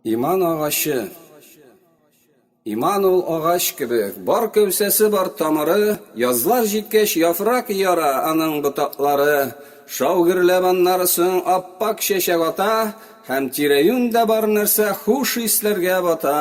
Иман агачы. Иман ул агач кебек, бар кәүсәсе бар тамыры, язлар җиткәч яфрак яра аның ботаклары, шау гөрләп аннары соң аппак чәчәк ата, һәм тирәюньдә бар нәрсә хуш исләргә бата.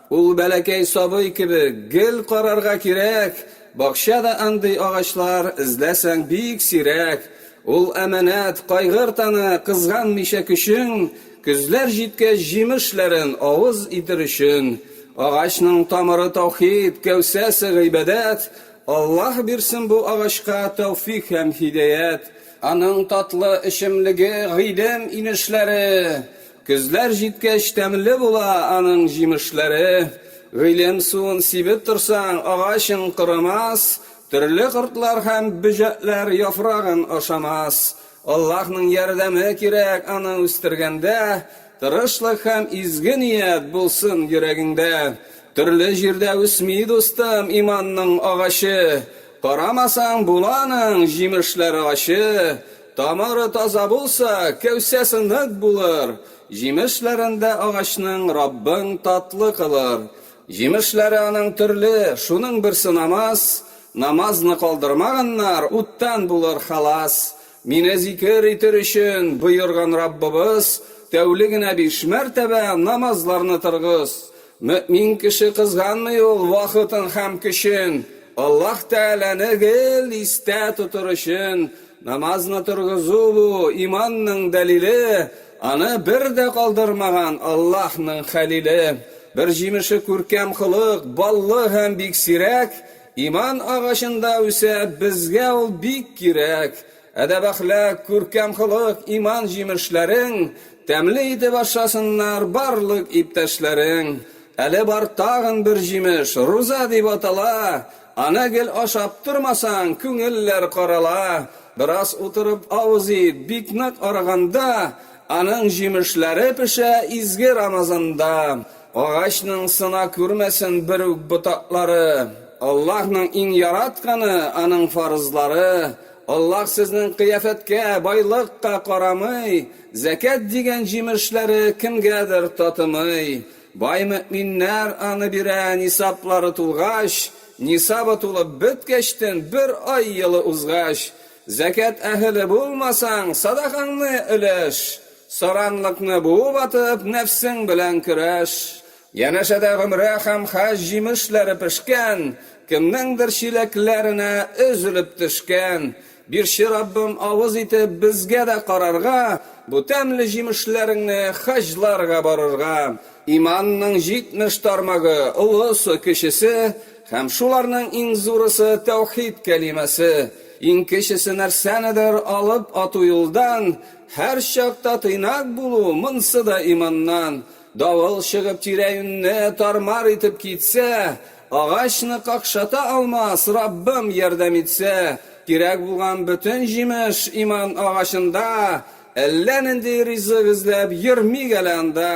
Ул бәләкәй сабый кебек, гел карарга кирәк, бакча да андый агачлар, эзләсәң, бик сирәк. Ул әманәт, кайгырт аны, кызганмыйча көчең, көзләр җиткәч, җимешләрен авыз итер өчен. Агачның тамыры таухид, кәүсәсе гыйбадәт. Аллаһ бирсен бу агачка тәүфик һәм һидәят. Аның татлы эчемлеге, гыйлем инешләре. Көзләр җиткәч тәмле була аның җимешләре. Гыйлем суын сибеп торсаң, агачың корамас, төрле кортлар һәм бөҗәкләр яфрагын ашамас. Аллаһның ярдәме кирәк аны үстергәндә, тырышлык һәм изге ният булсын йөрәгеңдә. Төрле җирдә үсми, дустым, иманның агачы. Карамасаң, була аның җимешләр агачы. Тамыры таза булса, кәүсәсе нык булыр, җимешләрен дә агачның Раббың татлы кылыр. Җимешләре аның төрле, шуның берсе намаз, намазны калдырмаганнар, уттан булыр халас. Мине зикер итер өчен боерган Раббыбыз, тәүлегенә биш мәртәбә намазларны торгыз. Мөэмин кеше кызганмый ул вакытын һәм көчен, Аллаһ Тәгаләне гел истә тотыр өчен. Намазны торгызу бу, иманның дәлиле, аны бер дә калдырмаган Аллаһның Хәлиле. Бер җимеше күркәм холык, баллы һәм бик сирәк, иман агачында үсә, безгә ул бик кирәк. Әдәп-әхлак, күркәм холык, иман җимешләрең, Тәмле итеп ашасыннар барлык иптәшләрең. Әле бар тагын бер җимеш, руза дип атала, Аны гел ашап тормасаң, күңелләр карала. Бераз утырып авыз ит, бик нык арыганда, Аның җимешләре пешә изге Рамазанда. Агачның сына күрмәсен бер үк ботаклары. Аллаһның иң яратканы, аның фарызлары. Аллаһ сезнең кыяфәткә, байлыкка карамый. Зәкят дигән җимешләре кемгәдер татымый. Бай мөэминнәр аны бирә нисаблары тулгач, нисабы тулып беткәчтен бер ай елы узгач. Зәкят әһеле булмасаң, садакаңны өләш. Саранлыкны буып атып, нәфсең белән көрәш. Янәшәдә гомрә һәм хаҗ җимешләре пешкән, кемнеңдер чиләкләренә өзелеп төшкән. Бирче Раббым авыз итеп безгә дә карарга, бу тәмле җимешләреңне хаҗларга барырга. Иманның җитмеш тармагы, олысы, кечесе, һәм шуларның иң зурысы тәүхид кәлимәсе. Иң кечесе нәрсәнедер алып ату юлдан, Һәрчакта тыйнак булу, монсы да иманнан. Давыл чыгып тирә-юньне тар-мар итеп китсә, агачны какшата алмас, Раббым ярдәм итсә. Кирәк булган бөтен җимеш иман агачында, әллә нинди ризык эзләп йөрмик әле анда.